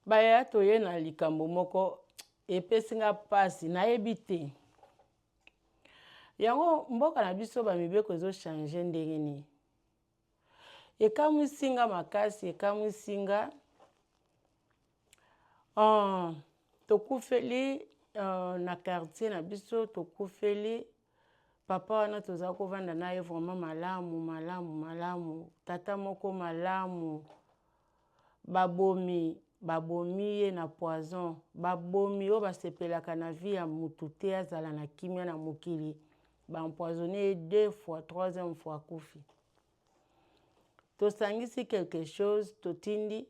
Bayaya toye na likambo moko epesi nga mpasi nayebi te yango mboka na biso bamibeko ezochange ndenge nini ekamwisi nga makasi ekamwisi nga uh, tokufeli uh, na quartier na biso tokufeli papa wana toza kovanda na ye vraiment malamu malamu malamu tata moko malamu Babomi babomi ye na poison babomi oyo basepelaka na vie ya mutu te azala na kimia na mokili ba empoisonne ye deux fois troisième fois akufi tosangisi quelque chose totindi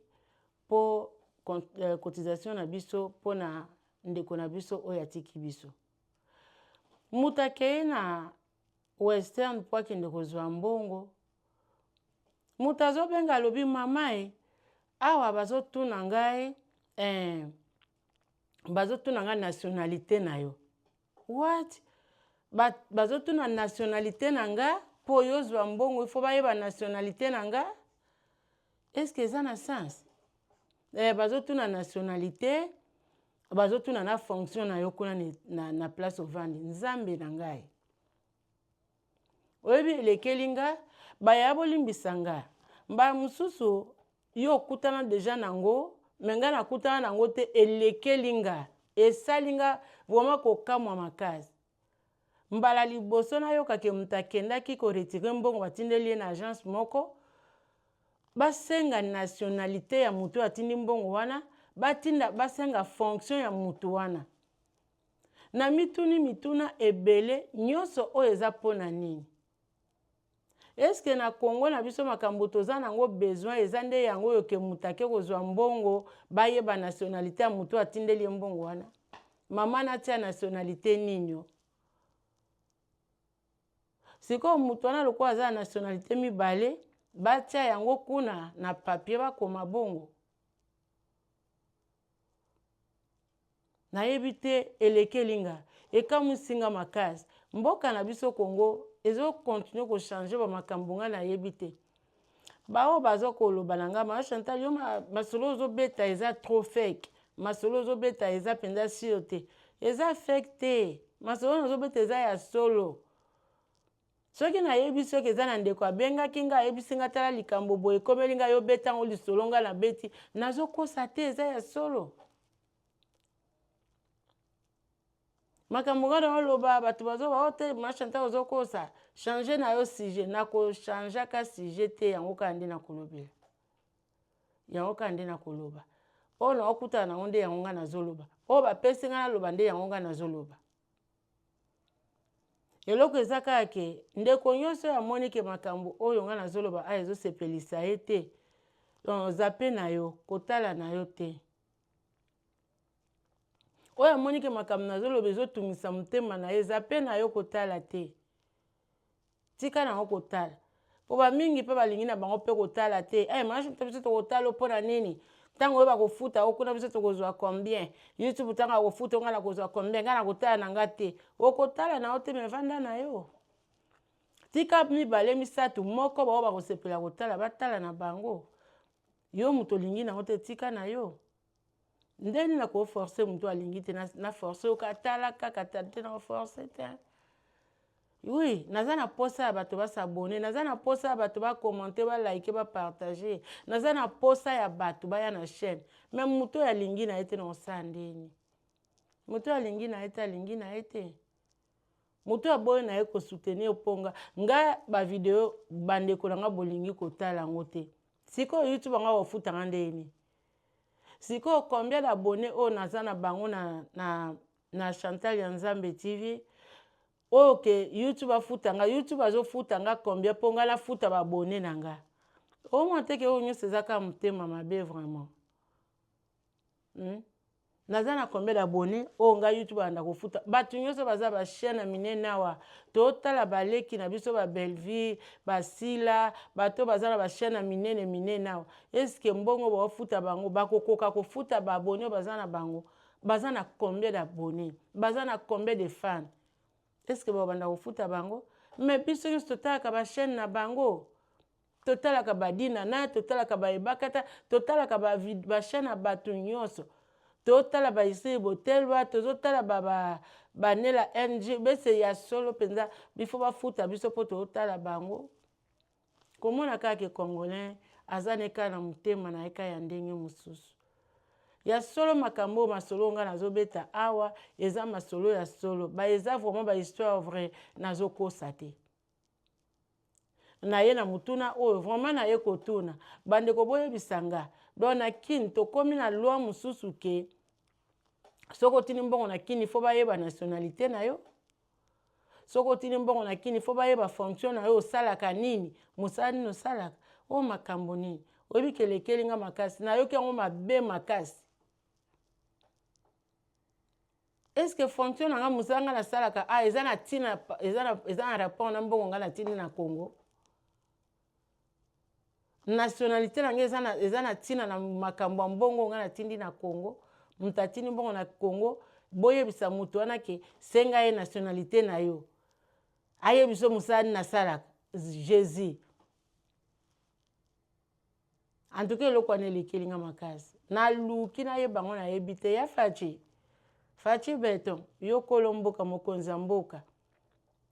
po euh, cotisation na biso pona ndeko na biso oyo atiki biso mutu akei na western po akende kozua mbongo mutu azobenga alobi mama e awa bazotuna ngai eh, bazotuna ngai nationalite na yo what ba, bazotuna nationalite na nga po yo ozwa mbongo ifo bayeba nationalite na nga eske eza na sens Eh, bazotuna nationalite bazotuna na fonction na yo kuna na, na place ovandi nzambe na ngai oyebi elekeli nga baya bolimbisa nga mbala mosusu yo okutana deja nango me ngai nakutana nango te elekeli nga esali nga vraimen kokamwa makasi Mbala liboso nayoka ke moto akendaki ko retirer mbongo atindeli ye na agence moko, basenga nationalite ya moto oyo atindi mbongo wana, batinda basenga fonction ya moto wana. Namituni mituna ebele, nionso oyo eza pona nini? Est ce que na Congo na biso makambo toza nango besoin eza nde yango oyo ke moto ake kozwa mbongo bayeba nationalite ya moto atindeli ye mbongo wana? Mama natia nationalite nini o? Sikoyo moto wana lokola aza na nationalite mibale batia yango kuna na papier bakoma bongo Nayebi te elekeli nga. Ekamwisi nga makasi. Mboka na biso Congo ezo continuer ko changer ba makambo nga nayebi te. Ba oyo baza koloba na nga mawa Chantal yo masolo ozo beta eza trop fake. Masolo ozo beta eza penza sur te. Eza fake te. Masolo nazo beta eza ya solo. Soki na yebi soki eza na ndeko abengaki nga ayebisi nga tala likambo boye ekomeli nga yo beta ngo lisolo nga na beti nazo kosa te eza ya solo makambo nga na oloba bato bazo ba ote oh, machanta ozo kosa change na yo sujet nako changeaka sujet te yango kaka nde nakolobela yango kaka nde nakoloba oyo naokutana nango nde yango nga nazoloba oyo bapesi nga naloba nde yango nga nazoloba eloko eza kaka ke ndeko nyonso oyo amoni ke makambo oyo ngai nazoloba awa ezosepelisa ye te donc zappe na yo kotala na yo te oyo amoni ke makambo nazoloba ezotungisa motema na ye zappe na yo kotala te Tika na yango kotala. Mpo bamingi mpe balingi na bango mpe kotala te. Eh, hey, mashi biso tokotala mpo na nini? ntango oyo bakofuta yo kuna biso tokozwa combien youtube ntango akofuta yo ngai nakozwa combien ngai nakotala na ngai te okotala na yo te me vanda na yo tika mibale misato moko baoyo bakosepela kotala batala na bango yo moto olingi na yango te tika na yo Ndeni na ko forcer mutu alingi te na forcer yo ka tala kaka tala te na ko forcer te. Oui, naza na posa ya bato ba s'abonner, naza na posa ya bato ba commenter, ba liker, ba partager, naza na posa ya bato baya na chaine mais mutu oyo alingi na ye te na kosala ndeni? Mutu oyo alingi na ye te alingi na ye te. moto aboyi na ye kosoutenir mpo nga nga bavideo bandeko na nga bolingi kotala yango te sikoyo youtube yango akofutanga ndenge nini Sikoyo combien d'abonnes oyo naza na bango na, na, na Chantal ya Nzambe TV oyo ke YouTube afuta nga, YouTube azofuta nga combien mpo nga nafuta ba abonnes na nga. Omona te ke oyo nyonso eza kaka motema mabe vraiment. Hmm? Naza na combien d'abonne oyo nga youtube abanda kofuta batu nyoso baza ba chaine ya minene awa totala ba leki na biso ba belvie ba sila bato baza na ba chaine ya minene minene awa eske mbongo bao futa bango bako koka ko futa ba abonne oyo baza na bango baza na combien d'abonne baza na combien de fan eske bao banda kofuta bango mais biso nyoso totalaka ba chaine na bango Totalaka ba dinana, totalaka ba ebakata, totalaka ba vid ba chaine ya batu nionso. Totala ba Esther Botelwa, tozo tala ba ba ba nella NG bese ya solo penza il faut bafuta biso po totala bango. Komona kaka ke congolais aza ne kaka na motema naye kaka ya ndenge mosusu. Ya solo makambo oyo masolo oyo nga nazo beta awa eza masolo ya solo ba eza vraiment ba histoire vrai nazo kosa te. naye na motuna oyo vraiment naye kotuna bandeko boyebisa nga donc na kin tokomi na loi mosusu ke soki otindi mbongo na kin ifo bayeba nationalité na yo soki otindi mbongo na kin ifo bayeba fonction na yo osalaka nini mosala nini osalaka oyo makambo nini oyebi kelekeli nga makasi nayoki yango mabe makasi Est-ce que fonction na nga musala nga nasalaka ah eza na tina eza na eza na rapport na mbongo nga natindi na Congo nationalité na nga eza na eza na tina na makambo ya mbongo nga natindi na Congo moto atindi mbongo na Congo boyebisa moto wana ke senga ye nationalité na yo ayebi biso mosala nini nasalaka jesus en tout cas eloko wana elekeli nga makasi naluki nayeba yango nayebi te ya faci faci beton yo kolo mboka mokonzi ya mboka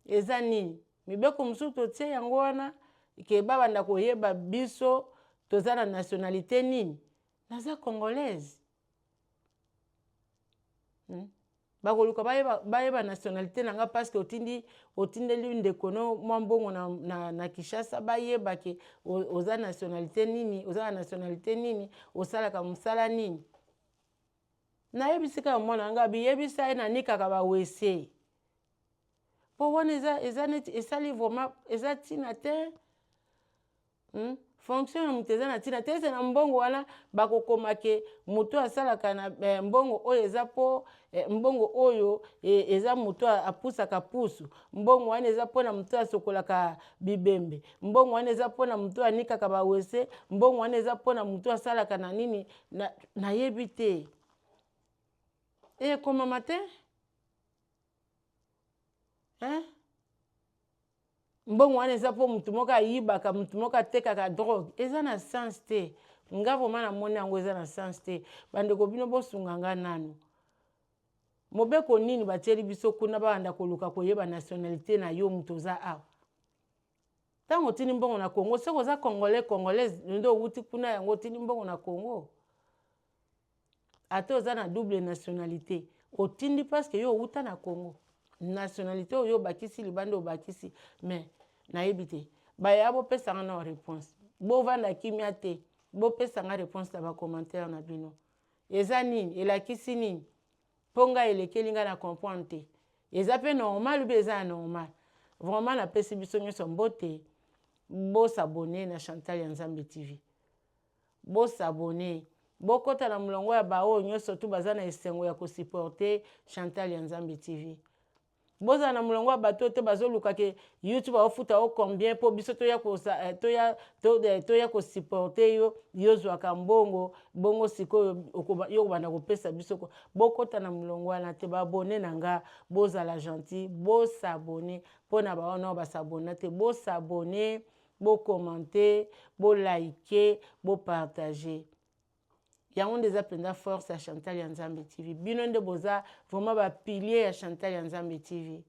eza nini mibeko mosusu totie yango wana ke babanda koyeba biso toza na nationalité nini naza congolaise hmm? bakoluka bayeba, bayeba nationalité na nga parce que otindi otindeli ndeko no mwa mbongo na, na, na kinshasa bayeba ke oza nationalité nini oza na nationalité nini osalaka mosala nini nayebisi kaka mwana na ngai biyebisa ye nanikaka bawese mpo wana eza, eza neti esali vraimen eza ntina te Hum fonction ya moto eza na ntina te ese na mbongo wana bakokoma ke moto asalaka na eh, mbongo oyo eza mpo eh, mbongo oyo eh, eza moto apusaka pusu mbongo wana eza mpo na moto asokolaka bibembe mbongo wana eza mpo na moto anikaka bawese mbongo wana eza mpo na moto asalaka na nini nayebi na te ekomama te eh? Mbongo wana eza po mutu moko ayibaka, mutu moko atekaka drogue. Eza na sens te. Nga vraiment na moni yango eza na sens te. Ba ndeko bino bo sunga nga nanu. Mobeko nini ba tieli biso kuna ba banda ko luka ko yeba nationalite na yo mutu oza awa? Tango otindi mbongo na Congo soki oza congolais, congolaise nde owuti kuna yango otindi mbongo na Congo? Ata oza na double nationalite otindi parce que yo owuta na Congo nationalite oyo yo obakisi libanda obakisi mais nayebi te baya bopesa nga nao reponse bovanda kimia te bopesa nga reponse na ba commentaire na bino eza nini elakisi nini po nga elekeli nga na comprendre te eza pe normal ou bien eza anormal vraiment napesi biso nionso mbote bo s'abonner na Chantal ya Nzambe TV. Bo s'abonner bo kota na mulongo ya ba oyo nioso tout baza na esengo ya ko supporter Chantal ya Nzambe TV. Bozala na mulongo ya batu oyo te bazo luka ke YouTube ako futa yo combien po biso toya ko toya toya ko supporter yo yo ozuaka mbongo bongo sikoyo yo okobanda ko pesa biso ko bo kota na mulongo wana te ba abonner na nga bozala gentil bo s'abonner pona ba wana oyo ba s'abonna te bo s'abonner Bo commenter, bo liker, bo partager. Yango nde eza penza force ya Chantal ya Nzambe TV. Bino nde boza vraiment ba piliers ya Chantal ya Nzambe TV.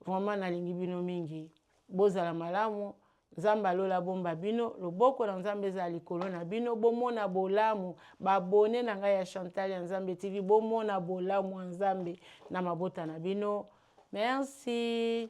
Vraiment nalingi bino mingi. Bozala malamu. Nzambe ya lola abomba bino. Loboko na Nzambe ezala likolo na bino. Bomona bolamu. Ba abonne na ngai ya Chantal ya Nzambe TV. Bomona bolamu ya Nzambe na mabota na bino. Merci.